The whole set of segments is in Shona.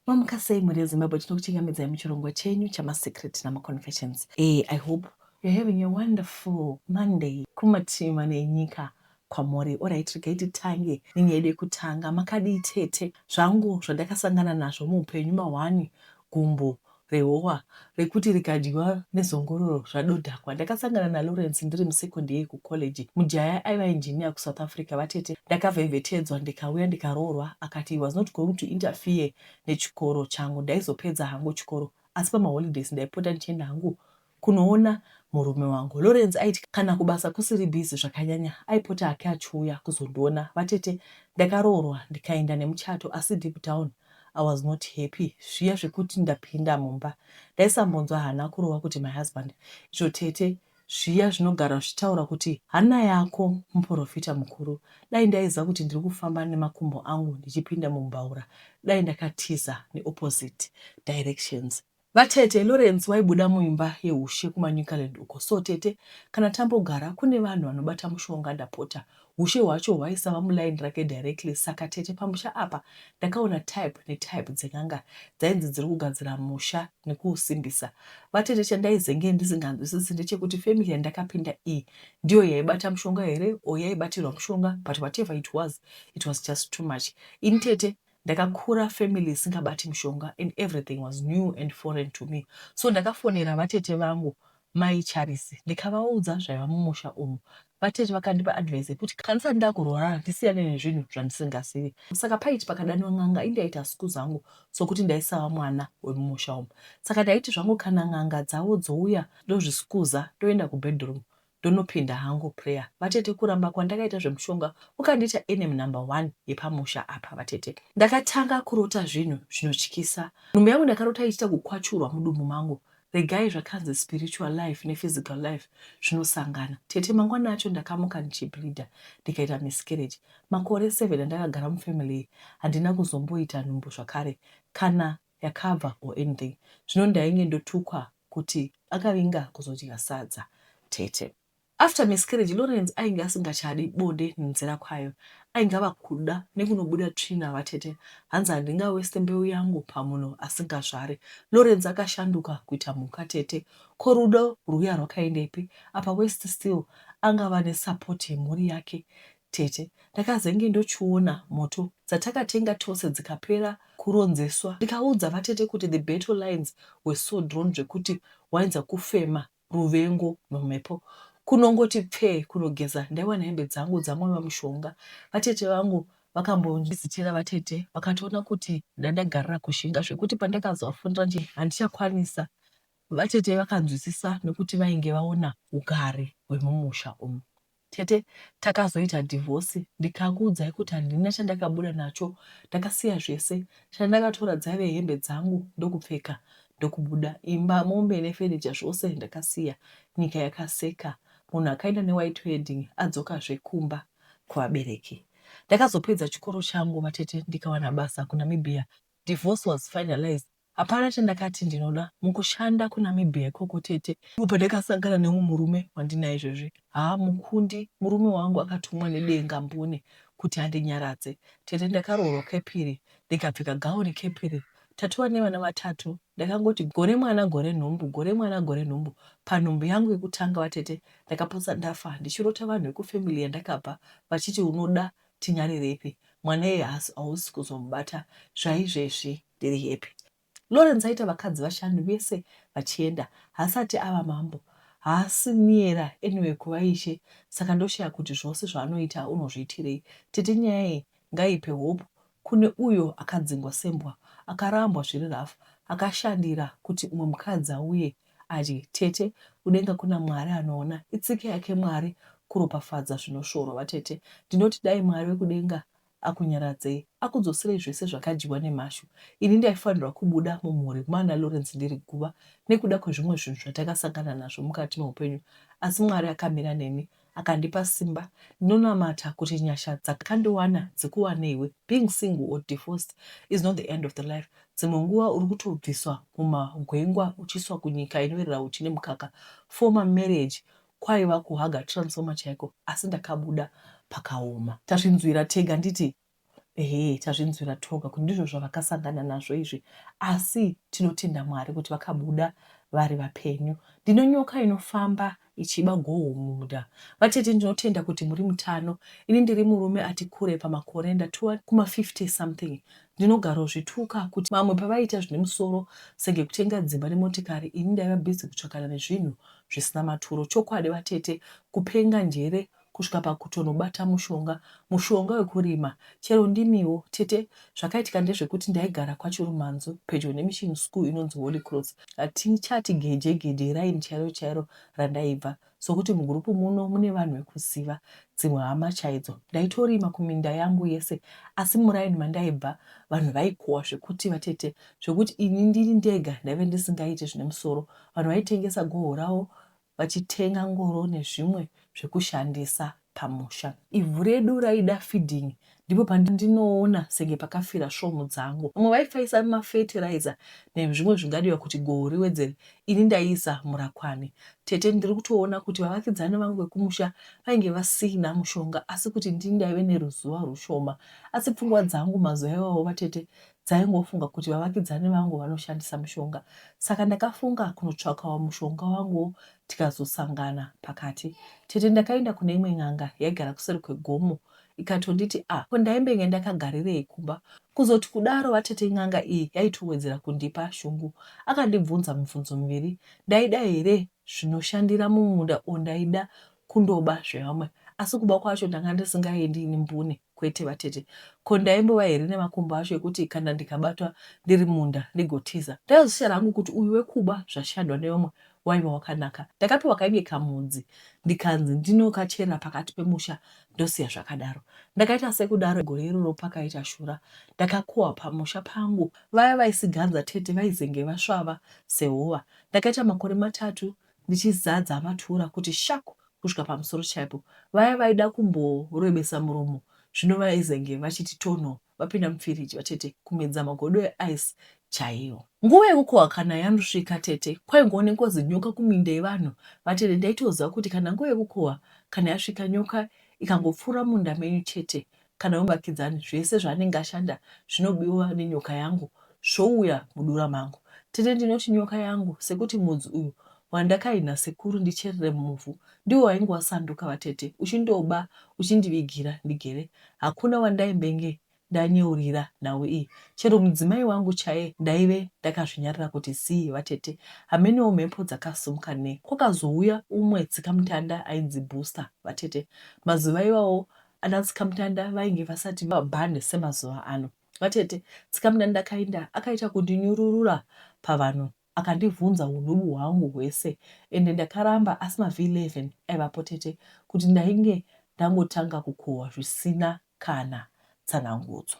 Mamuka sei mhuri yeZimbabwe tinokuchingamidzai muchirongwa chenyu chamaSecret namaConfessions. Eh, I hope you're having a wonderful Monday kumativi mana enyika kwamuri. Alright, regai titange nenyaya yedu yekutanga. Makadii tete? Zvangu zvandakasangana nazvo muupenyu mahwani, gumbo, rehowa rekuti rikadyiwa nezongororo zvadodhakwa ndakasangana naLawrence ndiri musecond year kucollege mujaya aiva engineer kuSouth Africa vatete ndakavhevhetedzwa ndikauya ndikaroorwa akati he was not going to interfere nechikoro changu ndaizopedza hangu chikoro asi pamaholidays ndaipota ndichienda hangu kunoona murume wangu. Lawrence aiti kana kubasa kusiri busy zvakanyanya aipota hake achiuya kuzondiona. Vatete ndakaroorwa ndikaenda nemuchato asi deep down I was not happy. Zviya zvekuti ndapinda mumba ndaisambonzwa hana kurova kuti my husband izvo tete zviya zvinogara zvichitaura kuti hana yako muporofita mukuru. Dai ndaiziva kuti ndiri kufamba nemakumbo angu ndichipinda mumbaura dai ndakatiza neopposite directions. Vatete Lawrence vaibuda muimba yehushe kuManicaland uko so tete kana tambogara kune vanhu vanobata mushonga ndapota hushe hwacho hwaisava muline rake directly saka tete pamusha apa ndakaona type netype dzen'anga dzainzi dziri kugadzira musha nekuusimbisa. Vatete chandaizenge ndisinganzwisisi ndechekuti family yandakapinda iyi ndiyo yaibata mushonga here or yaibatirwa mushonga but whatever it was it was just too much ini tete Ndakakura family isingabati mushonga and everything was new and foreign to me so ndakafonera vatete vangu mai Charisi ndikavaudza zvaiva mumusha umu. Vatete vakandipa advice yekuti kana ndisati ndakurwara ndisiyane nezvinhu zvandisingazivi. Saka paiti pakadanwa n'anga indaita siku zangu sokuti ndaisava mwana wemumusha umu. Saka ndaiti zvangu kana n'anga dzavo dzouya ndozviskuza ndoenda kubedroom ndonopinda hangu prayer vatete kuramba kwandakaita zvemushonga ukandiita enemy number one yepamusha apa vatete ndakatanga kurota zvinhu zvinotyisa nhumbu yangu ndakarota ichiita kukwachurwa mudumbu mangu regai zvakanzi spiritual life nephysical life zvinosangana tete mangwana acho ndakamuka ndichibleeder ndikaita miscarriage makore seven andakagara mufamily iyi handina kuzomboita nhumbu zvakare kana yakabva or anything zvino ndainge ndotukwa kuti akavinga kuzodya sadza tete. After miscarriage Lawrence ainge asingachadi bonde nenzira kwayo ainge ava kuda nekunobuda tsvina vatete hanzi handinga waste mbeu yangu pamunhu asingazvari Lawrence akashanduka kuita mhuka tete ko rudo rwuya rwakaendepi apa waste still angava nesupport yemhuri yake Tete. Ndakazenge ndochiona moto dzatakatenga tose dzikapera kuronzeswa ndikaudza vatete kuti the battle lines were so drawn zvekuti wainza kufema ruvengo nomhepo. Kunongoti pfee kunogeza ndaiwana hembe dzangu dzamwiwa mushonga. Vatete vangu vakambondizitira vatete vakatoona kuti ndandagarira kushinga zvekuti pandakazovafonera ndichiti handichakwanisa vatete vakanzwisisa nekuti vainge vaona hugare hwemumusha umu. Tete takazoita divorce ndikakuudzai kuti handina chandakabuda nacho ndakasiya zvese chandakatora dzaive hembe dzangu ndokupfeka ndokubuda imba mombe nefurniture zvose ndakasiya nyika yakaseka munhu akaenda newhite wedding adzokazve kumba kuvabereki ndakazopedza chikoro changu vatete ndikawana basa kuNamibia divorce was finalized Hapana chandakati ndinoda mukushanda kuNamibia ikoko tete. Ndipo pandakasangana neumwe murume wandinaye izvezvi. Haa Mukundi murume wangu akatumwa nedenga mbune kuti andinyaradze. Tete ndakaroorwa kepiri ndikapfeka gauni kepiri tatova nevana vatatu. Ndakangoti gore mwana gore nhumbu gore mwana gore nhumbu. Panhumbu yangu yekutanga vatete ndakapotsa ndafa ndichirota vanhu vekufamily yandakabva vachiti unoda Tinyarireipi mwana iyeye haasi hausi kuzomubata zvaizvezvi ndiri happy. Lawrence aita vakadzi vashanu vese vachienda haasati ava mambo haasi niyera anyway kuva ishe saka ndoshaya kuti zvose zvaanoita unozviitirei. Tete nyaya iyi ngaipe hope kune uyo akadzingwa sembwa akarambwa zviri rough akashandira kuti umwe mukadzi auye Ati, Tete, kudenga kuna Mwari anoona. Itsika yake Mwari kuropafadza zvinosvorwa. Vatete, ndinoti dai Mwari wekudenga akunyaradzei, akudzoserei zvese zvakadyiwa nemhashu. Ini ndaifanirwa kubuda mumhuri mwaana Lawrence ndiri guva nekuda kwezvimwe zvinhu zvatakasangana nazvo mukati meupenyu, asi Mwari akamira neni Akandipa simba. Ndinonamata kuti nyasha dzakandiwana dzikuwaneiwe. Being single or divorced is not the end of the life. Dzimwe nguva uri kutobviswa mumagwengwa uchiiswa kunyika inoyerera huchi nemukaka. Former marriage kwaiva kuhaga transformer chaiko asi ndakabuda pakaoma. Tazvinzwira tega nditi Ehe tazvinzwira toga kuti ndizvo zvavakasangana nazvo izvi asi tinotenda Mwari kuti vakabuda vari vapenyu. Ndine nyoka inofamba ichiba goho mumunda. Vatete ndinotenda kuti muri mutano. Ini ndiri murume ati kure pamakore ndatova kuma 50 something. Ndinogarozvituka kuti vamwe pavaiita zvine musoro senge kutenga dzimba nemotikari ini ndaiva busy kutsvakana nezvinhu zvisina maturo. Chokwadi vatete kupenga njere kusvika pakutonobata mushonga mushonga wekurima chero ndimiwo tete zvakaitika ndezvekuti ndaigara kwaChirumanzu pedyo nemission school inonzi Holy Cross hatichati geje geje iraini chairo chairo randaibva sokuti mugroup muno mune vanhu vekuziva dzimwe hama chaidzo ndaitorima kuminda yangu yese asi muraini mandaibva vanhu vaikowa zvekuti vatete zvekuti ini ndiri ndega ndaive ndisingaite zvine musoro vanhu vaitengesa goho ravo vachitenga ngoro nezvimwe zvekushandisa pamusha. Ivhu redu raida feeding ndipo pandinoona senge pakafira svomhu dzangu. Vamwe vaifaisa mafertilizer nezvimwe zvingadiwa kuti goho riwedzere ini ndaiisa murakwani. Tete ndiri kutoona kuti vavakidzani vangu vekumusha vainge vasina mushonga asi kuti ndini ndaive neruzivo rwushoma. Asi pfungwa dzangu mazuva iwawo vatete dzaingofunga kuti vavakidzani vangu vanoshandisa mushonga saka ndakafunga kunotsvakawo mushonga wanguwo tikazosangana pakati tete ndakaenda kune imwe n'anga yaigara kuseri kwegomo ikatonditi a ah, ko ndaimbenge ndakagarirei kumba kuzoti kudaro vatete n'anga iyi yaitowedzera kundipa shungu akandibvunza mibvunzo miviri ndaida here zvinoshandira mumunda ondaida kundoba zvevamwe asi kuba kwacho ndanga ndisingaendi ini mbune kwete vatete ko ndaimbova here nemakumbo acho ekuti kana ndikabatwa ndiri munda ndigotiza ndaizosara hangu kuti uyu wekuba zvashadwa nevamwe waiva wakanaka ndakapiwa kainge kamudzi ndikanzi ndinokachera pakati pemusha ndosiya zvakadaro ndakaita sekudaro gore iroro pakaita shura ndakakohwa pamusha pangu vaya vaisiganza tete vaizenge vasvava sehova ndakaita makore matatu ndichizadza matura kuti shaku kusvika pamusoro chaipo. Vaya vaida kumborebesa muromo zvino vaizenge vachiti tonho vapinda mufiriji vatete kumedza magodo eice chaiwo. Nguva yekukohwa kana yanosvika tete kwaingoonekwa zinyoka kuminda yevanhu vatete ndaitoziva kuti kana nguva yekukohwa kana yasvika nyoka ikangopfuura munda menyu chete kana wemuvakidzani zvese zvaanenge ashanda zvinobiwa nenyoka yangu zvouya mudura mangu. Tete ndinoti nyoka yangu sekuti mudzi uyu wandakahi nasekuru ndicherere mumuvhu ndiwo wainge wasanduka vatete uchindoba uchindivigira ndigere hakuna wandaimbenge ndanyeurira nhau iyi chero mudzimai wangu chaye ndaive ndakazvinyarira kuti zii vatete hamenewo mhepo dzakasumuka ne kwakazouya umwe tsikamutanda ainzi booster vatete mazuva iwawo ana tsikamutanda vainge vasati vabhande semazuva ano vatete tsikamutanda akainda akaita kundinyururura pavanhu akandivhunza udubu hwangu hwese ende ndakaramba asi mav 11 aivapo tete kuti ndainge ndangotanga kukohwa zvisina kana tsanangudzo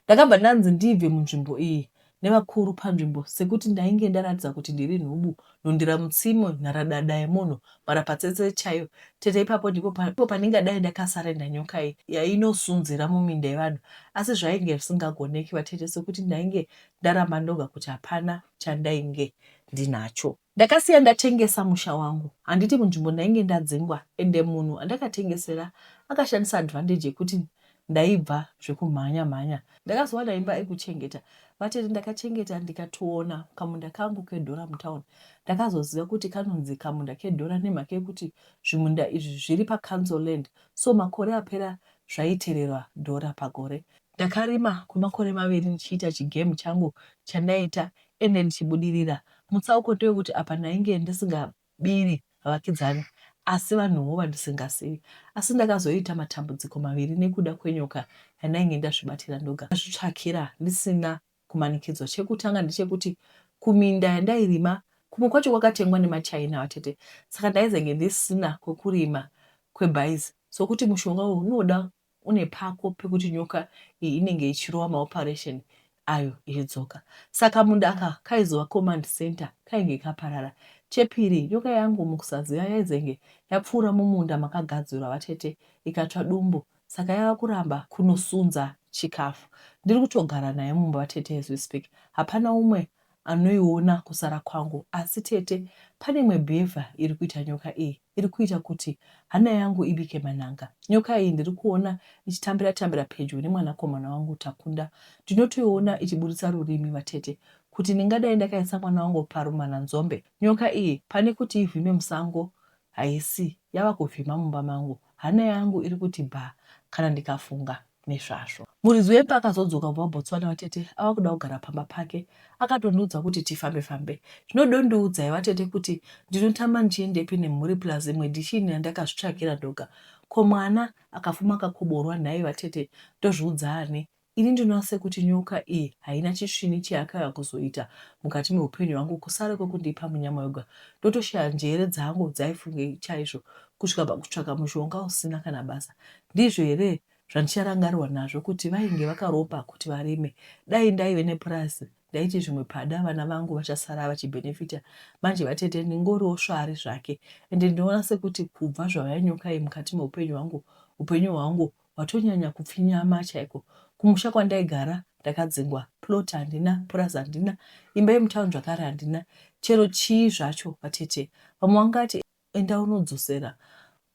Ndakabva ndanzi ndibve munzvimbo iyi nevakuru panzvimbo sekuti ndainge ndaratidza kuti ndiri nhubu, nhundira mutsime, nharadada yemunhu, mharapatsetse chaiyo. Tete ipapo ndipo pandingadai ndakasarenda nyoka iyi yainosunzira muminda yevanhu asi zvainge zvisingagoneki vatete sekuti ndainge ndaramba ndoga kuti hapana chandainge ndinacho. Ndakasiya ndatengesa musha wangu handiti munzvimbo ndainge ndadzingwa ende munhu andakatengesera akashandisa advantage yekuti ndaibva zvekumhanya mhanya. Ndakazowana imba ekuchengeta vatete ndakachengeta ndikatoona kamunda kangu kedhora mutown ndakazoziva kuti kanonzi kamunda kedhora nemhaka yekuti zvimunda izvi zviri pacouncil land so makore apera zvaitererwa dhora pagore. Ndakarima kwemakore maviri ndichiita chigame changu chandaiita Ende ndichibudirira. Mutsauko ndewekuti apa ndainge ndisingabiri vakidzani asi vanhuwo vandisingazivi. Asi ndakazoita matambudziko maviri nekuda kwenyoka yandainge ndazvibatira ndoga ndazvitsvakira ndisina kumanikidzwa. Chekutanga ndechekuti kuminda yandairima kumwe kwacho kwakatengwa nemaChina vatete saka ndaizenge ndisina kwekurima kwebhaizi sokuti mushonga uyu unoda une pako pekuti nyoka iyi inenge ichirova maoperation ayo ichidzoka saka munda aka kaizova command center kainge kaparara chepiri nyoka yangu mukusaziva yaizenge yapfuura mumunda makagadzirwa vatete ikatsva dumbu saka yava kuramba kunosunza chikafu ndiri kutogara nayo mumba vatete as we speak hapana umwe anoiona kusara kwangu asi tete pane imwe bhevha iri kuita nyoka iyi iri kuita kuti hana yangu ibike manhanga nyoka iyi ndiri kuona ichitambira tambira pedyo nemwanakomana wangu takunda ndinotoiona ichiburitsa rurimi vatete kuti ndingadai ndakaisa mwana wangu parumana nzombe nyoka iyi pane kuti ivhime musango haisi yava kuvhima mumba mangu hana yangu iri kuti bhaa kana ndikafunga nezvazvo. Muridzi wemba akazodzoka kubva kuBotswana vatete ava kuda kugara pamba pake akatondiudza kuti tifambe fambe zvinodondiudzai vatete kuti ndinotama ndichiendepi nemhuri plus imwe ndichini yandakazvitsvagira ndoga ko mwana akafuma akakoborwa nhai vatete ndozviudza ani ini ndinoona sekuti nyoka iyi haina chisvini cheyakauya kuzoita mukati meupenyu hwangu kusare kwekundipa munyama yoga ndotoshaya njere dzangu dzaifungei chaizvo kusvika pakutsvaka mushonga usina kana basa Ndizvo here zvandicharangarirwa nazvo kuti vainge vakaropa kuti varime. Dai ndaive nepurazi ndaiti zvimwe pada vana vangu vachasara vachibenefita. Manje vatete ndingoriwo svari zvake ende ndinoona sekuti kubva zvauya nyoka iyi mukati meupenyu hwangu, upenyu hwangu hwatonyanya kupfinyama chaiko. Kumusha kwandaigara ndakadzingwa, plot handina, purazi handina, imba yemutown zvakare handina. Chero chii zvacho vatete. Vamwe vangati Enda unodzosera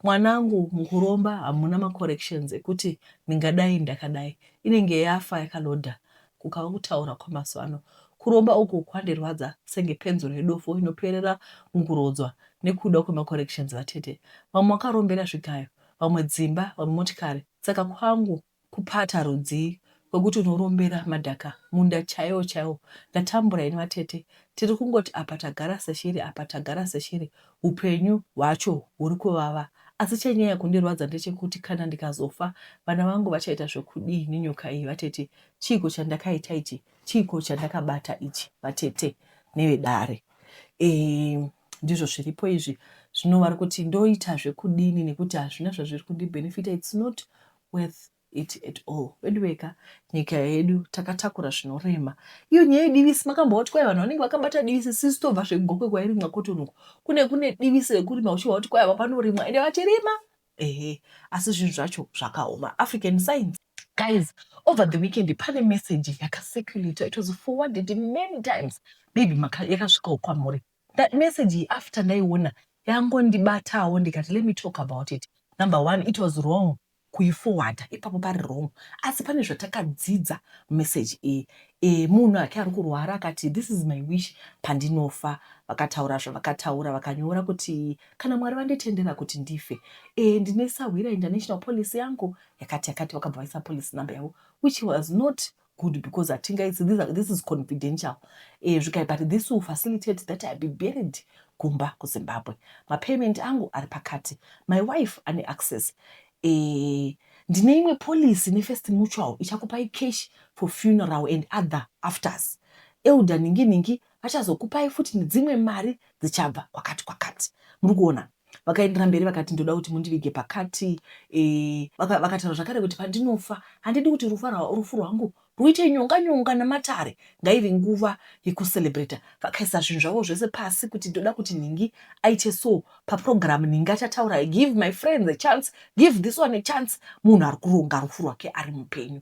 mwanangu mukuromba hamuna macorrections ekuti ndingadai ndakadai inenge yafa yakaloader kukava kutaura kwamazuva ano kuromba uku kwandirwadza senge penzura yedofo inoperera mukurodzwa nekuda kwemacorrections vatete vamwe wakarombera zvigayo vamwe dzimba vamwe motikari saka kwangu Kupata rudzii kwekuti unorombera madhaka munda chaiwo chaiwo ndatambura ini vatete tiri kungoti apa tagara seshiri apa tagara seshiri hupenyu hwacho huri kuvava asi chenyaya kundirwadza ndechekuti kana ndikazofa vana vangu vachaita zvekudii nenyoka iyi vatete chiiko chandakaita ichi chiiko chandakabata ichi vatete nevedare eee ndizvo zviripo izvi zvino vari kuti ndoita zvekudini nekuti hazvina zvazviri kundibhenefita its not worth it at all veduwee ka nyika yedu takatakura zvinorema iyo nyaya yedivisi makambo wati kwai vanhu vanenge vakabata divisi sisi tobva zvegokwe kwairimwa kotonuko kune kune divisi rekurima uchiva kuti kwai ava panorimwa ende vachirima ehe asi zvinhu zvacho zvakaoma african science guys over the weekend pane message yakaseculator it was forwarded many times maybe yakasvikawo kwamuri That message iyi after ndaiona yangondibatawo ndikati let me talk about it. Number one it was wrong kuiforwarder ipapo pari wrong asi pane zvatakadzidza message iyi. E, munhu ake ari kurwara akati this is my wish pandinofa vakataura zvavakataura vakanyora kuti kana Mwari vanditendera kuti ndife e, ndine sahwira international policy yangu yakati yakati vakabva vaisa policy number yavo which was not good because hatingaisi this is confidential eh, zvikai but this will facilitate that i be buried kumba kuzimbabwe mapayment angu ari pakati my wife ane access eh, ndine imwe policy nefirst mutual ichakupai cash for funeral and other afters elder ningi ningi vachazokupai futi nedzimwe mari dzichabva kwakati kwakati muri kuona vakaendera mberi vakati ndoda kuti mundivige pakati e, vakataura zvakare kuti pandinofa handidi kuti rufu rwangu rwuite nyonga nyonga namatare ngaive nguva yekucelebrata vakaisa zvinhu zvavo zvese pasi kuti ndoda kuti nhingi aite so paprogramu nhingi achataura give my friends a chance give this one a chance munhu ari kuronga rufu rwake ari mupenyu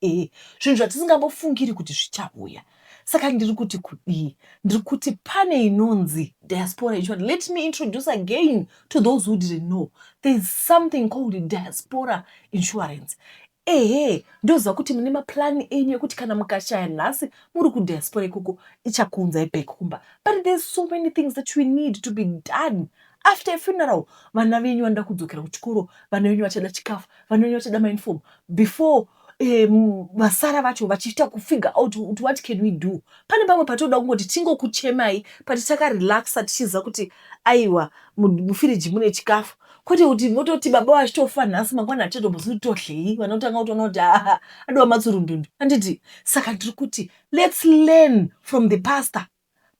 Ehe, zvinhu zvatisingambofungiri kuti zvichauya. Saka ndiri kuti kudii? Ndiri kuti pane inonzi diaspora yechivanhu. Let me introduce again to those who didn't know. There is something called diaspora insurance. Ehe, ndoziva kuti mune maplan enyu ekuti kana mukashaya nhasi muri kudiaspora ikoko ichakuunzai back kumba. But there's so many things that we need to be done after a funeral vana venyu vanoda kudzokera kuchikoro vana venyu vachada chikafu vana venyu vachada mauniform before um, vasara vacho vachiita kufigure out kuti what can we do pane pamwe patinoda kungoti tingokuchemai pati takarelaxa tichiziva kuti aiwa mufiriji mune chikafu kwete kuti vototi baba vachitofa nhasi mangwana hatichatombozi kuti todlei vanotanga kutoona kuti aa adiwa matsurundundu handiti saka ndiri kuti lets learn from the pastor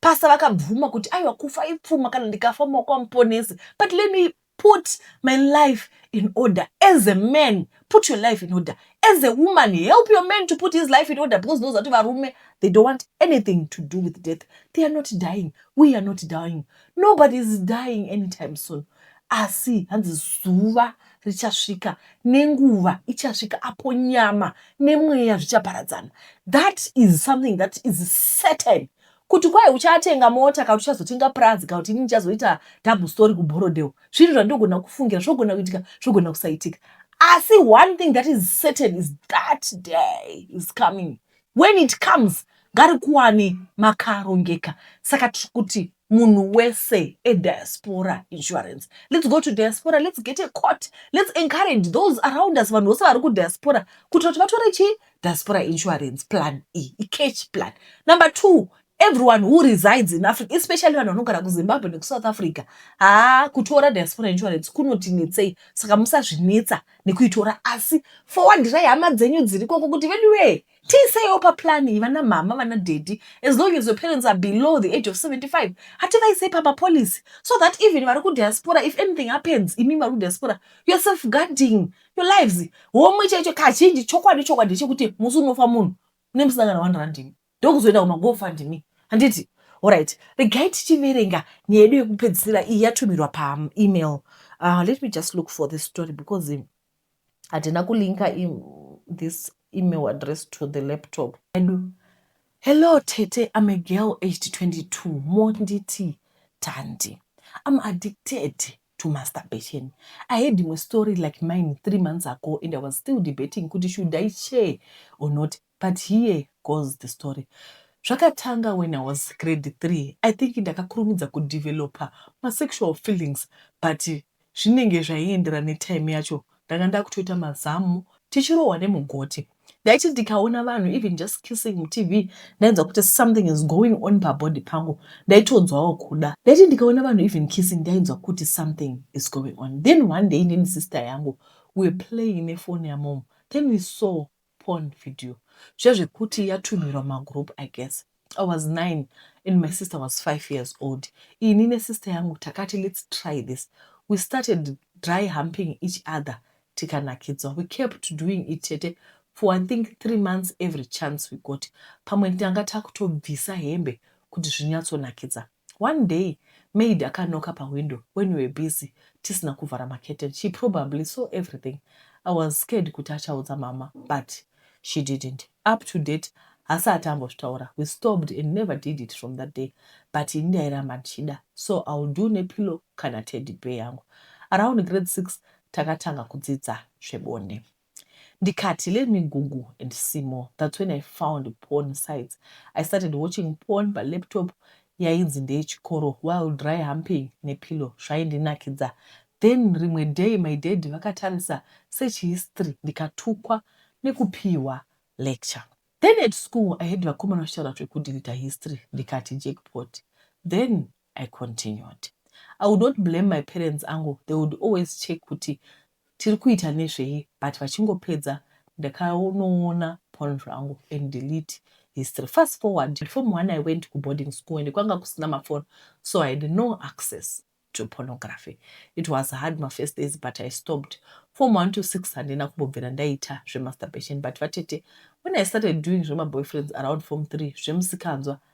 Pastor vakabvuma kuti aiwa kufa ipfuma kana ndikafa mumaoko aMuponesi but let me put my life in order as a man put your life in order as a woman help your man to put his life in order because ndinoziva kuti varume they don't want anything to do with death they are not dying we are not dying nobody is dying anytime soon asi hanzi zuva richasvika nenguva ichasvika apo nyama nemweya zvichaparadzana that is something that is certain kuti kwai uchatenga mota kana uchazotenga purazi kana kuti ini ndichazoita double story kubhorodhewo zvinhu zvandinogona kufungira zvogona kuitika zvogona kusaitika asi one thing that is certain is that day is coming when it comes ngarikuwane makarongeka saka tiri kuti munhu wese ediaspora insurance let's go to diaspora let's get a court let's encourage those around us vanhu vose vari kudiaspora kuitira kuti vatore chii diaspora insurance plan iyi icash plan number two everyone who resides in africa especially vanhu vanogara kuzimbabwe nekusouth africa haa kutora diaspora insurance kunotinetsei saka musazvinetsa nekuitora asi fowandirai hama dzenyu dziri koko kuti veduwee tiiseiwo paplan iyi vana mhama vana dhedhi as long as your parents are below the age of 75 hativaisei pamapolicy so that even vari kudiaspora if anything happens imi vari kudiaspora you're self guarding your lives homwe chaicho kazhinji chokwadi chokwadi chekuti musi unofa munhu une musangana one randimi ndokuzoenda kumagofundme handiti orit regai tichiverenga nyaya yedu yekupedzisira iyi yatumirwa paemail uh, ah, let me just look for this story because hatina kulinka this email address to the laptop edu hello tete im a girl aged 22 monditi tandi im addicted to masturbation i had imwe story like mine three months ago and i was still debating kuti should i share or not But here goes the story zvakatanga when I was grade three I think ndakakurumidza kudeveloper masexual feelings but zvinenge zvaiendera netime yacho ndanga ndakutoita mazamu tichirohwa nemugoti ndaiti ndikaona vanhu even just kissing mutv ndainzwa kuti something is going on pabody pangu ndaitonzwawo kuda ndaiti ndikaona vanhu even kissing ndainzwa kuti something is going on then one day neni sister yangu we were playing nefoni yamom then we saw porn video zvezvekuti yatumhirwa mumagroup i guess i was nine and my sister was five years old ini nesister yangu takati let's try this we started dry humping each other tikanakidzwa we kept doing it chete for i think three months every chance we got pamwe tanga takutobvisa hembe kuti zvinyatsonakidza One day maid akanoka pawindow when we were busy tisina kuvhara macurtain she probably saw everything I was scared kuti achaudza mama but she didn't up to date hasati ambozvitaura we stopped and never did it from that day but ini ndairamba ndichida so I'll do nepillow kana teddy bear yangu. Around grade six takatanga kudzidza zvebonde. Ndikati let me google and see more that's when I found porn sites. I started watching porn pa laptop yainzi ndeye chikoro while dry humping ne pillow zvaindinakidza. Then rimwe day my dad vakatarisa search history ndikatukwa nekupihwa lecture. Then at school I heard vakomana vachitaura zveku deleter history ndikati jackpot then I continued. I would not blame my parents angu they would always check kuti tiri kuita nezvei but vachingopedza ndakanoona porn zvangu and delete history fast forward form one I went kuboarding school and kwanga kusina maphone so I had no access to pornography it was hard mafirst days but I stopped form one to six handina kumbobvira ndaita zvemasturbation but vatete when I started doing zvemaboyfriends around form three zvemusikanzwa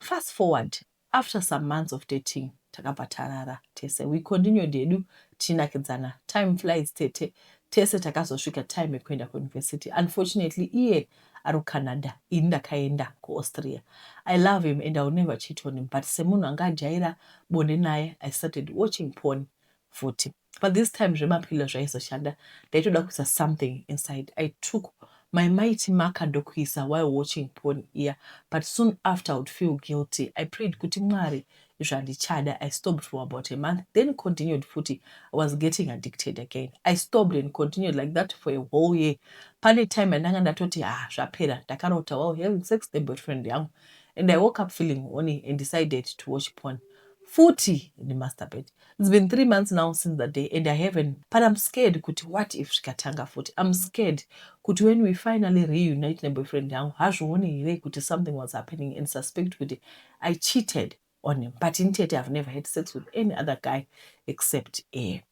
Fast forward after some months of dating takabva tarara tese. We continued hedu tichinakidzana. Time flies tete. Tese takazosvika time yekuenda kuuniversity. Unfortunately iye ari kuCanada ini ndakaenda kuAustria. I love him and I will never cheat on him but semunhu anga ajaira bonde naye I started watching porn futi. but this time zvemapillow zvaizoshanda ndaitoda kuisa something inside i took my mighty marker ndokuisa while watching porn iya but soon after i would feel guilty i prayed kuti mwari izvo handichada i stopped for about a month then continued futi i was getting addicted again i stopped and continued like that for a whole year pane time yandanga ndatoti ha ah, zvapera ndakarota while having sex the boyfriend yangu and i woke up feeling horny and decided to watch porn futi ndimasturbate It's been three months now since that day and I haven't but I'm scared kuti what if zvikatanga futi. I'm scared kuti when we finally reunite neboyfriend yangu hazvione here kuti something was happening and suspect kuti I cheated on him but in tete I've never had sex with any other guy except air.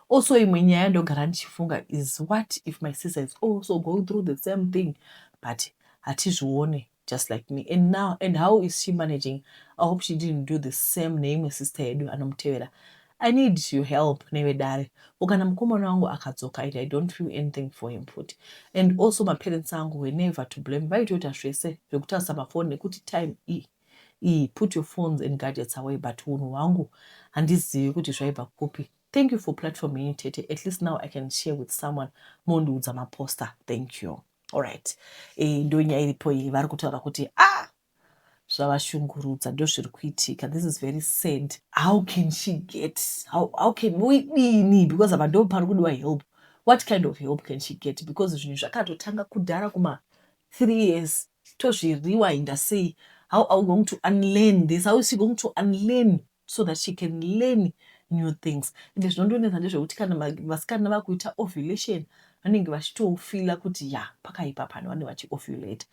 Also imwe nyaya yandogara ndichifunga is what if my sister is also going through the same thing but hatizvione just like me and now and how is she managing i hope she didn't do the same neimwe sister yedu anomutevera i need your help nevedare ko kana mukomana wangu akadzoka and i don't feel anything for him futi and also maparents angu were never to blame vaitoita zvese zvekutarisa mafoni nekuti time e iyi put your phones and gadgets away but unhu hwangu handizivi kuti zvaibva kupi thank you for platform yenyu tete at least now i can share with someone mondiudza maposter thank you Alright. Eh, ndo nyaya iripo iyi vari kutaura kuti ah zvavashungurudza ndozviri kuitika this is very sad how can she get how, how can uidini because apa ndo pari kudiwa help what kind of help can she get because zvinhu zvakatotanga kudhara kuma three years tozviriwa inda sei how are we going to unlearn this how is she going to unlearn so that she can learn new things ende zvinondonetsa ndezvekuti kana vasikana vakuita ovulation vanenge vachitofila kuti ya pakaipa pano vanenge vachiovulate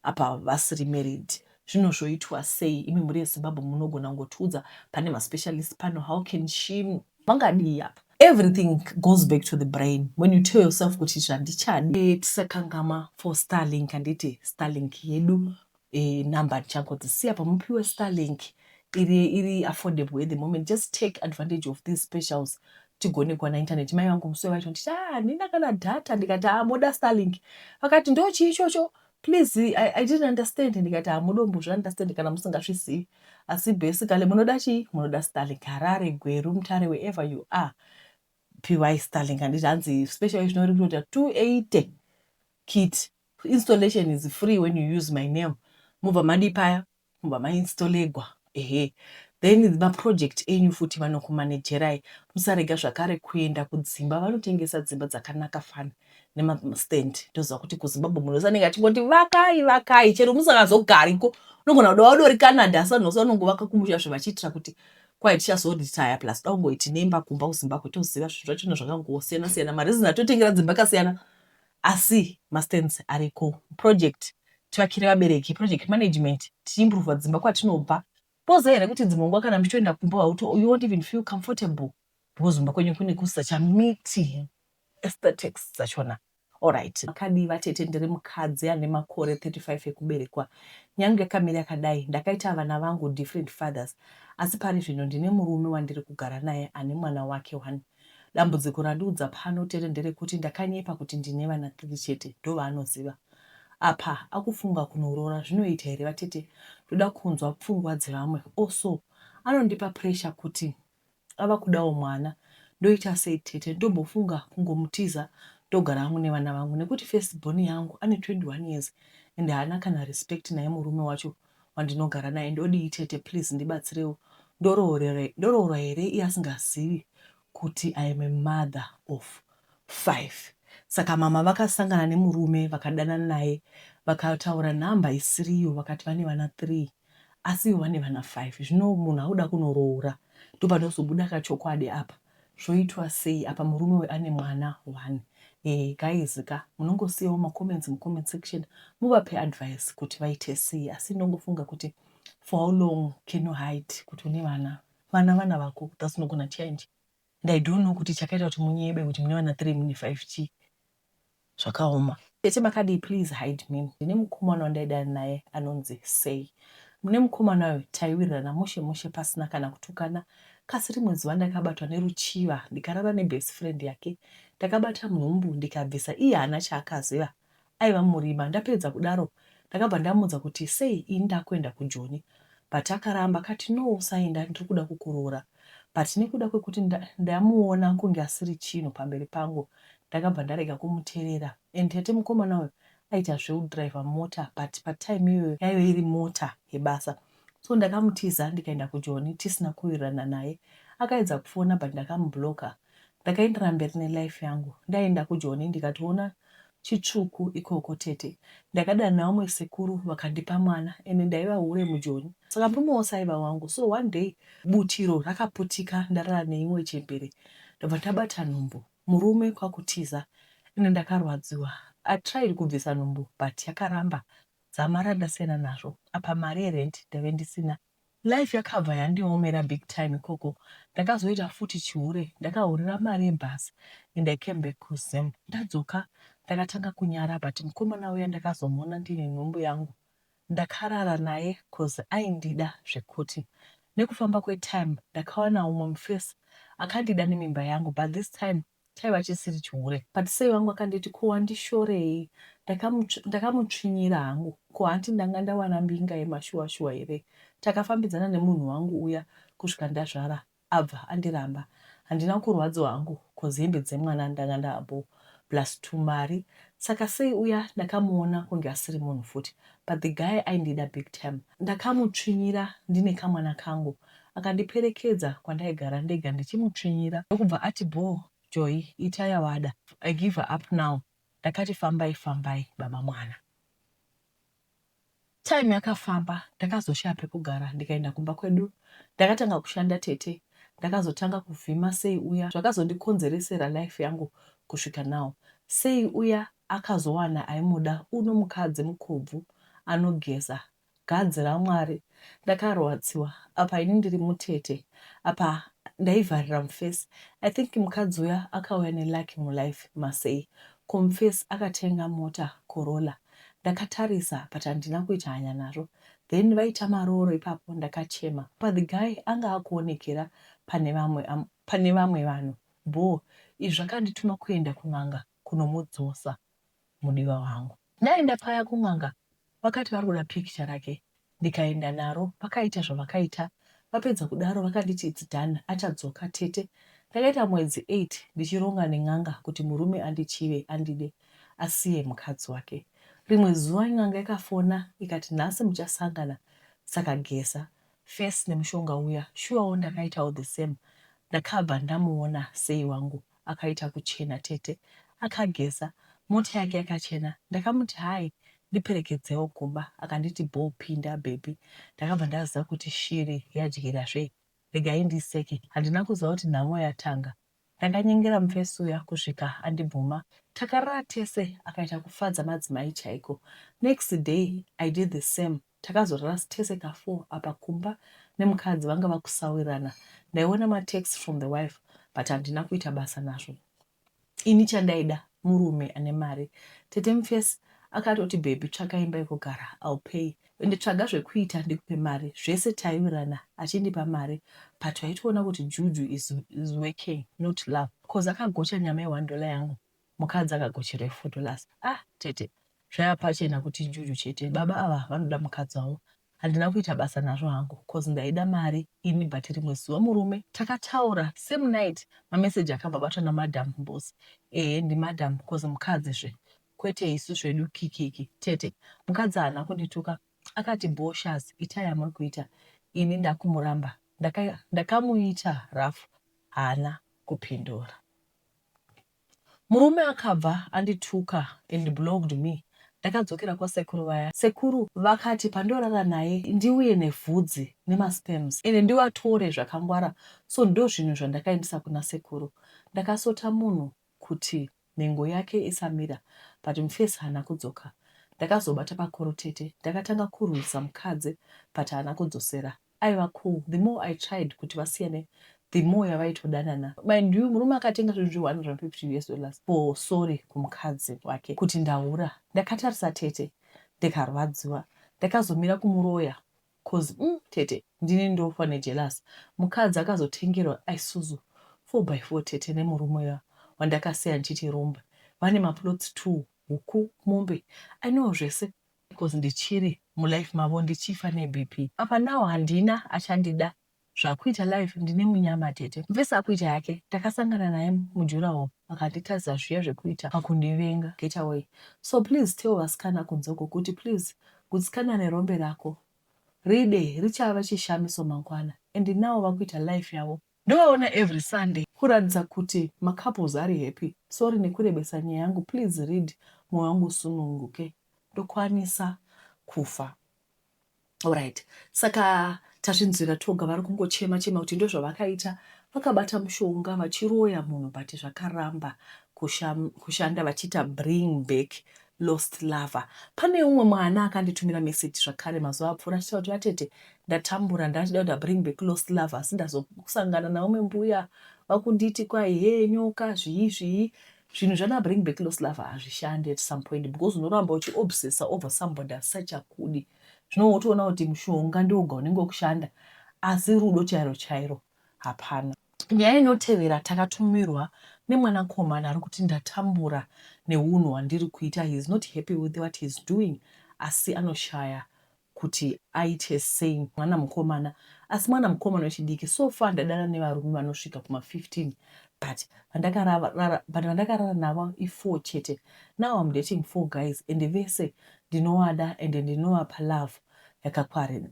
apa vasiri married zvino zvoitwa sei imi mhuri yezimbabwe munogona kungotiudza pane maspecialist pano how can she vangadii apa everything goes back to the brain when you tell yourself kuti zvandichadi eh, tisakangama for starlink handiti starlink yedu e, number ndichangodzisiya pamupiwe starlink iri iri affordable at the moment just take advantage of these specials tigone kuwana internet mai vangu musi vacho nditi ah, handina kana data ndikati ah, moda starlink vakati ndo chii ichocho please I, i didn't understand ndikati hamudombo ah, zviunderstand kana musingazvizivi asi basically munoda chii munoda starlink harare gweru mutare wherever you are py starlink handiti hanzi special izvino rikutoita 280 kit. Installation is free when you use my name mobva madii paya mobva ma installegwa ehe then ma project enyu futi vanokumanagerai musarega zvakare kuenda kudzimba vanotengesa dzimba dzakanaka fani nema stand ndoziva kuti kuzimbabwe munhu wese anenge achingoti vakai vakai chero musakazogariko unogona kuda wauda uri canada asi vanhu vose vanongovaka kumusha zve vachiitira kuti kwai tichazoritaya plus da ungoiti nemba kumba kuzimbabwe toziva zvinhu zvachona zvakangosiyana siyana marizini atotengera dzimba kasiyana Asi mastands ariko project tivakire vabereki, project management, tichiimprover dzimba kwatinobva. Toziva here kuti dzimwe nguva kana muchitoenda kumba hauto, you won't even feel comfortable because kumba kwenyu kune kusachamiti aesthetics dzachona. Alright. Makadii vatete ndiri mukadzi ane makore 35 ekuberekwa. Nyange yakamira yakadai ndakaita vana vangu different fathers asi pari zvino ndine murume wandiri kugara naye ane mwana wake one. Dambudziko randiudza pano Tere nderekuti ndakanyepa kuti ndine vana three chete ndovanoziva. Apa akufunga kunoroora zvinoita here vatete ndoda kunzwa pfungwa dzevamwe also anondipa pressure kuti ava kudawo mwana ndoita sei tete ndombofunga kungomutiza ndogara hangu nevana vangu nekuti first born yangu ane 21 years ende haana kana respect naye murume wacho wandinogara naye ndodii tete please ndibatsirewo ndoroorwa here iye asingazivi kuti I am a mother of five saka mama vakasangana nemurume vakadanana naye vakataura number isiriyo vakati vane vana three asi ivo vane vana five zvino munhu akuda kunoroora ndopanozobuda kachokwadi apa zvoitwa sei apa murume uyu ane mwana one eeh guys ka munongosiyawo ma comments mu comment section muvape advice kuti vaite sei asi ndongofunga kuti for how long can you hide kuti une vana vana vana vako that's not gonna change and I don't know kuti chakaita kuti munyebe kuti mune vana three mune five chii zvakaoma. Tete makadii please hide me ndine mukomana wandaidana naye anonzi Say mune mukomana uyu taiwirirana mushe mushe pasina kana kutukana kasi rimwe zuva ndakabatwa neruchiva ndikarara nebest friend yake ndakabata nhumbu ndikabvisa iye haana chaakaziva aiva murima ndapedza kudaro ndakabva ndamuudza kuti Say ini ndakuenda kujoni but akaramba akati no usaenda ndiri kuda kukuroora but nekuda kwekuti ndamuona kunge asiri chinhu pamberi pangu ndakabva ndarega kumuterera and tete mukomana uyu aita zveudriver mota but patime iyoyo yaive iri mota yebasa so ndakamutiza ndikaenda kujoni tisina kuwirirana naye akaedza kufona but ndakamublocker ndakaendera mberi nelife yangu ndaenda kujoni ndikatoona chitsvuku ikoko tete ndakadana vamwe sekuru vakandipa mwana ende ndaiva hure mujoni saka murume wose aiva wangu so one day butiro rakaputika ndarara neimwe chembere ndobva ndabata nhumbu Murume kwakutiza ende ndakarwadziwa I tried kubvisa nhumbu but yakaramba dzamara ndasiyana nazvo apa mari yerent ndaive ndisina life yakabva yandiomera big time ikoko ndakazoita futi chihure ndakahurira mari yebus and I came back kuZim ndadzoka ndakatanga kunyara but mukomana uya ndakazomuona ndine nhumbu yangu Ndakarara naye coz aindida zvekuti. Nekufamba kwetime ndakawana umwe mufesi akandida nemimba yangu but this time chaiva chisiri chihure. But sei wangu akanditi ko wandishorei ndakamutsvinyira hangu ko hanti ndanga ndawana mbinga yemashuwa shuwa here. Takafambidzana nemunhu wangu uya kusvika ndazvara abva andiramba handina kurwadziwa hangu coz hembe dzemwana ndanga ndaabhoo plus tumari saka sei uya ndakamuona kunge asiri munhu futi but the guy aindida big tym ndakamutsvinyira ndine kamwana kangu akandiperekedza kwandaigara ndega ndichimutsvinyira ndokubva ati bhoo Joy ita yawada I give her up now ndakati fambai fambai baba mwana. Time yakafamba ndakazoshaya pekugara ndikaenda kumba kwedu. Ndakatanga kushanda tete ndakazotanga kuvhima Sei uya zvakazondikonzeresera life yangu kusvika now. Sei uya akazowana aimuda uno mukadzi mukobvu anogeza gadzi raMwari ndakaroadziwa apa ini ndiri mutete apa ndaivharira mufesi I think mukadzi uya akauya nelucky mulife maSei ko mufesi akatenga mota Corolla ndakatarisa but handina kuita hanya nazvo then vaita marooro ipapo ndakachema but the guy anga akuonekera pane vamwe am, pane vamwe vanhu bhoo izvi zvakandituma kuenda kun'anga kunomudzosa mudiwa wangu ndaenda paya kun'anga vakati vari kuda picture rake ndikaenda naro vakaita zvavakaita vapedza kudaro vakanditi it's done achadzoka tete ndakaita mwedzi eight ndichironga nen'anga kuti murume andichive andide asiye mukadzi wake rimwe zuva n'anga yakafona ikati nhasi muchasangana saka geza face nemushonga uya shuwawo ndakaitawo the same ndakabva ndamuona sei wangu akaita kuchena tete akageza mota yake yakachena ndakamuti hai ndiperekedzewo kumba akanditi bho pinda baby ndakabva ndaziva kuti shiri yadyira zve regai ndiseke handina kuziva kuti nhamo yatanga ndakanyengera mufesi uya kusvika andibvuma takarara tese akaita kufadza madzimai chaiko next day i did the same Takazorara tese ka four apa kumba nemukadzi vanga vakusawirirana ndaiona ma text from the wife but handina kuita basa nazvo ini chandaida murume ane mari. Tete Mufesi akatoti baby tsvaka imba yekugara I'll pay ende tsvaga zvekuita ndikupe mari zvese taiwirirana achindipa mari but waitoona kuti juju is, is working not love coz akagocha nyama ye one dollar yangu Mukadzi akagochera ifoto last ah tete zvaiva pachena kuti njuju chete baba ava vanoda mukadzi wavo handina kuita basa nazvo hangu coz ndaida mari ini but rimwe zuva murume takataura same night mamessage akabva abatwa namadam Mbuzi ehe ndimadam coz mukadzi zve kwete isu zvedu kikiki tete mukadzi haana kundituka akati bhoo shaz itai yamuri kuita ini ndakumuramba ndakamuita ndaka rough haana kupindura Murume akabva andituka and blocked me ndakadzokera kwasekuru vaya sekuru vakati pandinorara naye ndiuye nevhudzi nemasperms ende ndivatore zvakangwara so ndozvinhu zvandakaendesa kuna sekuru ndakasota munhu kuti nhengo yake isamira but mufesi haana kudzoka ndakazobata pakoro tete ndakatanga kurwisa mukadzi but haana kudzosera aiva cool the more I tried kuti vasiyane the more yavaitodanana mind you murume akatenga zvinhu zve 150 us dollars for sorry kumukadzi wake kuti ndahura ndakatarisa tete ndikarwadziwa ndakazomira kumuroya coz mm, tete ndini ndofa nejelasi mukadzi akazotengerwa isuzu 4 by 4 tete nemurume uya wandakasiya ndichiti rombe vane maplots two huku mombe i know zvese because ndichiri mulife mavo ndichifa nebp apa now handina achandida zvakuita life ndine munyama tete mvese akuita yake ndakasangana naye mujurahall akanditadza zviya zvekuita pakundivenga get away so please tell vasikana kunze uko kuti please gutsikana nerombe rako ride richava chishamiso mangwana and now vakuita life yavo Ndovaona every Sunday. Kuratidza kuti ma couples ari happy. Sorry nekurebesa nyaya yangu please read moyo wangu usununguke ndokwanisa kufa alright saka tazvinzwira toga vari kungochema chema kuti ndozvavakaita vakabata mushonga vachiroya munhu but zvakaramba kushanda vachiita bring back Lost lover pane umwe mwana akanditumira message zvakare mazuva apfuura achitaura kuti vatete ndatambura ndachida kuti abring back lost lover asi ndazosangana naumwe mbuya vakunditi kwai he nyoka zvii zvii zvinhu zvana bring back lost lover hazvishandi at some point because unoramba uchiobsessa over somebody asisachakudi zvino wotoona kuti mushonga ndiwoga unenge wekushanda asi rudo chairo chairo hapana. Nyaya inotevera takatumirwa nemwanakomana ari kuti ndatambura nehunhu hwandiri kuita he is not happy with what he is doing asi anoshaya kuti aite sei mwana mukomana asi mwana mukomana wechidiki so far ndadara nevarume vanosvika kuma 15 but vandakarara but vandakarara navo i4 chete now I'm dating four guys and vese ndinovada and ndinovapa love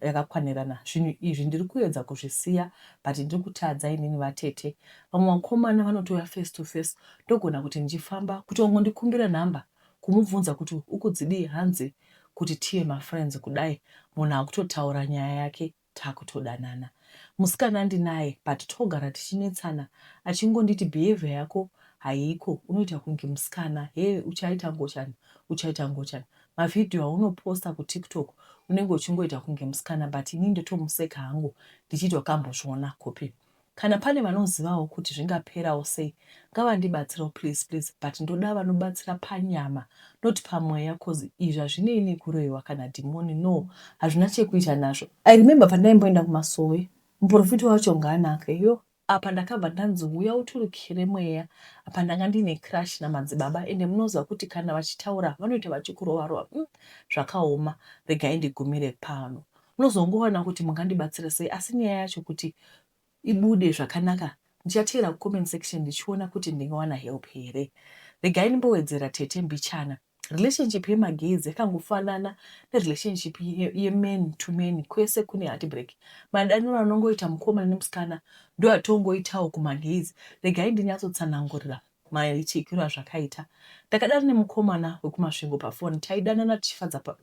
yakakwanirana zvinhu izvi ndiri kuedza kuzvisiya but ndiri kutadza inini vatete vamwe vakomana vanotouya face to face ndogona kuti ndichifamba kuti wangondikumbira number kumubvunza kuti ukudzidii hanzi kuti tiye mafriends kudai munhu akutotaura nyaya yake takutodanana musikana ndinaye but togara tichinetsana achingonditi behavior yako haiko unoita kunge musikana hee uchaita ngochani uchaita ngochani Ma video auno poster ku tiktok unenge uchingoita kunge musikana but ini ndotomuseka hangu ndichiti wakambozviona kupi. Kana pane vanozivawo kuti zvingaperawo sei ngavandibatsirewo please please but ndoda vanobatsira panyama not pamweya coz izvi hazvinei nekuroiwa kana dhimoni no hazvina chekuita nazvo. I remember pandaimboenda kumasowe muporofita wacho ngaanake yoh Apa ndakabva ndanzi huya uturikire mweya apa ndanga ndiine crush namadzibaba ende munoziva kuti kana vachitaura vanoita vachikurova rova umm zvakaoma regai ndigumire pano munozongoona kuti mungandibatsira sei asi nyaya yacho kuti ibude zvakanaka ndichateera kucomment section ndichiona kuti ndingawana help here regai ndimbowedzera tete mbichana relationship yemagetsi yakangofanana nerelationship yeman ye to man kwese kune heartbreak madaniro anongoita mukomana nemusikana ndo atongoitawo kumagetsi regai ndinyatsotsanangurira maichekiro azvakaita ndakadana nemukomana wekumasvingo pafoni taidanana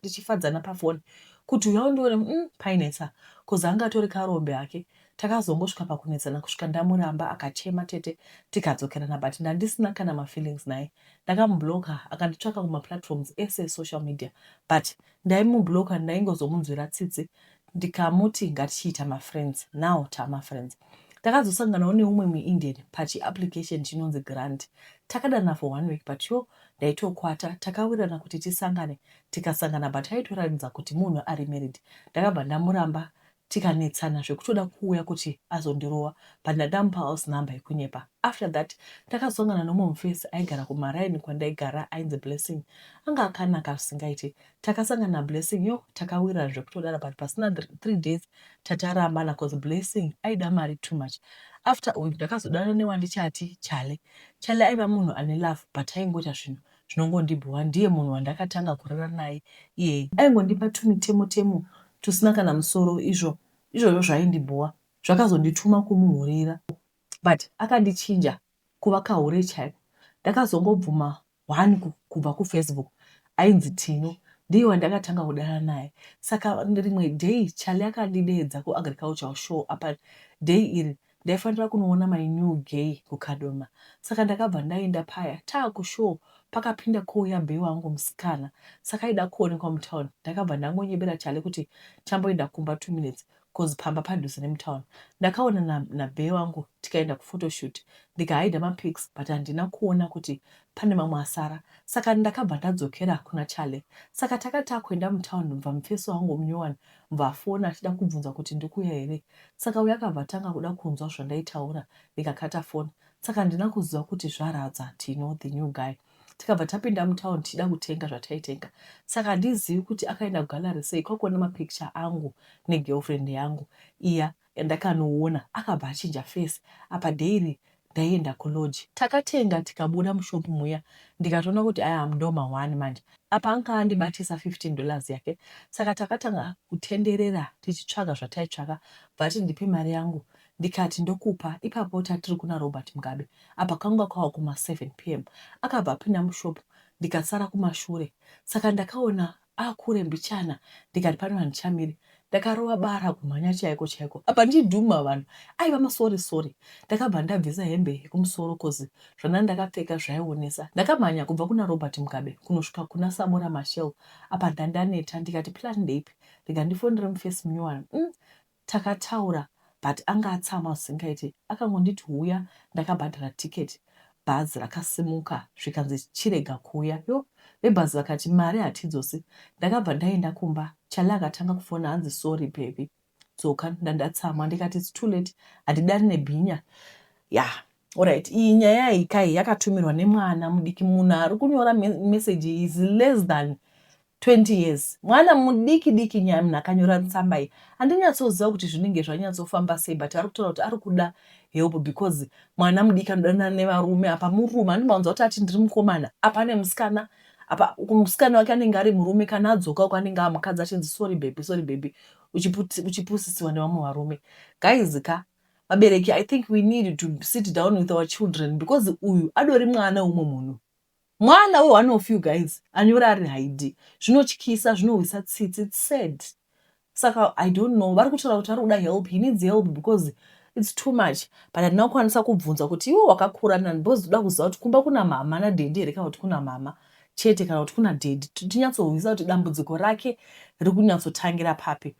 tichifadzana pafoni kuti uya undione mm, painetsa kuzi anga atori karombe hake Takazongosvika pakunetsana kusvika ndamuramba akachema tete tikadzokerana but ndandisina kana mafeelings naye. Ndakamublocker akanditsvaka kumaplatforms ese esocial media but ndaimublocker ndaingozomunzwira tsitsi ndikamuti ngatichiita mafriends now tamafriends. Takazosanganawo neumwe muIndian pachiapplication chinonzi Grant. Takadana for one week but yo ndaitokwata takawirana kuti tisangane tikasangana but aitoratidza kuti munhu ari married ndakabva ndamuramba tikanetsana zvekutoda kuuya kuti azondirova but ndakamupa house number yekunyepa after that ndakazosangana neumwe mufesi aigara kumaraini kwandaigara ainzi Blessing anga akanaka zvisingaite takasangana naBlessing yo takawirirana zvekutodara but pasina three days tatarambana cause Blessing aida mari too much after uyu ndakazodana newandichati Chale Chale aiva munhu ane love but aingoita zvinhu zvinongondibhowa ndiye munhu wandakatanga kurara naye iyeye aingondipa tumitemo temo tusina kana musoro izvo izvozvo zvaindibhowa zvakazondituma kumuhurira but akandichinja kuva kahure chaiko ndakazongobvuma one kubva kufacebook ainzi Tino ndiye wandakatanga kudana naye saka rimwe day Charlie akandideedza kuagricultural show apa day iri Ndaifanira kunoona my new gay kuKadoma saka ndakabva ndaenda paya taaku show pakapinda kouya bbe wangu musikana saka aida kuonekwa mutown ndakabva ndangonyebera Charlie kuti chamboenda kumba two minutes coz pamba padhuze nemutown. Ndakaona na nabbe wangu tikaenda kuphotoshoot ndikahider mapics but handina kuona kuti pane mamwe asara saka ndakabva ndadzokera kuna Charlie saka takati takuenda mutown bva mufesi wangu munyowani akabva afona achida kubvunza kuti ndikuuya here saka uya akabva atanga kuda kunzwa zvandaitaura ndikakata foni saka handina kuziva kuti zvaradza tino the new guy tikabva tapinda mutown tichida kutenga zvataitenga saka handizivi kuti akaenda kugallery sei kwakuona mapicture angu negirlfriend yangu iya Yandakanoona akabva achinja face apa daily ndaienda kulodge. Takatenga tikabuda mushop muya ndikatoona kuti I am ndoma one manje. Apa anga andibatisa 15 dollars yake saka takatanga kutenderera tichitsvaga zvataitsvaga bvaati ndipe mari yangu ndikati ndokupa ipapo tatiri kuna Robert Mugabe apa kanga kwava kuma 7 pm akabva apinda mushop ndikasara kumashure saka ndakaona Ah kure mbichana ndikati pano handichamire ndakarova bara kumhanya chaiko chaiko apa ndi Duma vanhu aiva masorry sorry ndakabva ndabvisa hembe yekumusoro coz zvandanga ndakapfeka zvaionesa ndakamhanya kubva kuna Robert Mugabe kunosvika kuna Samora Mashel apa ndandaneta ndikati plan ndeipi rega ndifonere muface munyowani umm Takataura but anga atsamwa zvisingaite akangonditi huya ndakabhadhara ticket bhazi rakasimuka zvikanzi chirega kuuya yoh vebhazi vakati mari hatidzosi ndakabva ndaenda kumba Charlie akatanga kufona hanzi sorry baby dzoka ndandatsamwa ndikati it's too late handidare nebhinya yah Alright, iyi nyaya iyi kai yakatumirwa nemwana mudiki munhu ari kunyora message iyi is less than 20 years mwana mudiki diki nyaya munhu akanyora tsamba iyi handinyatsoziva kuti zvinenge zvanyatsofamba sei but ari kutaura kuti ari kuda help because mwana mudiki anodanana nevarume apa murume andimaunza kuti ati ndiri mukomana apa ane musikana apa musikana wake anenge ari murume kana adzoka uko anenge amukadzi achinzi sorry baby sorry baby uchipusisiwa nevamwe varume guys ka vabereki i think we need to sit down with our children because uyu adori mwana weumwe munhu mwana we one of you guys anyora ari haidi zvinotyisa zvinohwisa tsitsi its sad saka i don't know vari kutaura kuti ari kuda help he needs help because its too much but handina kukwanisa kubvunza kuti iwe wakakura nani because toda kuziva kuti kumba kuna mama nadhedi here kana kuti kuna mama chete kana kuti kuna dhedi tinyatsohwisa kuti dambudziko rake riri kunyatsotangira papi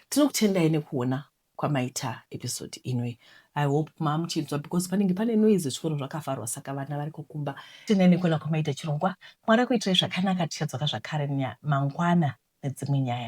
tinokutendai nekuona kwamaita episode ino iyi i hope maamuchinzwa because panenge pane noise zvikonho zvakafarwa saka vana vari kukumba tine nekona kwamaita chirongwa mwari akuitirai zvakanaka tichadzoka zvakare mangwana nedzimwe nyaya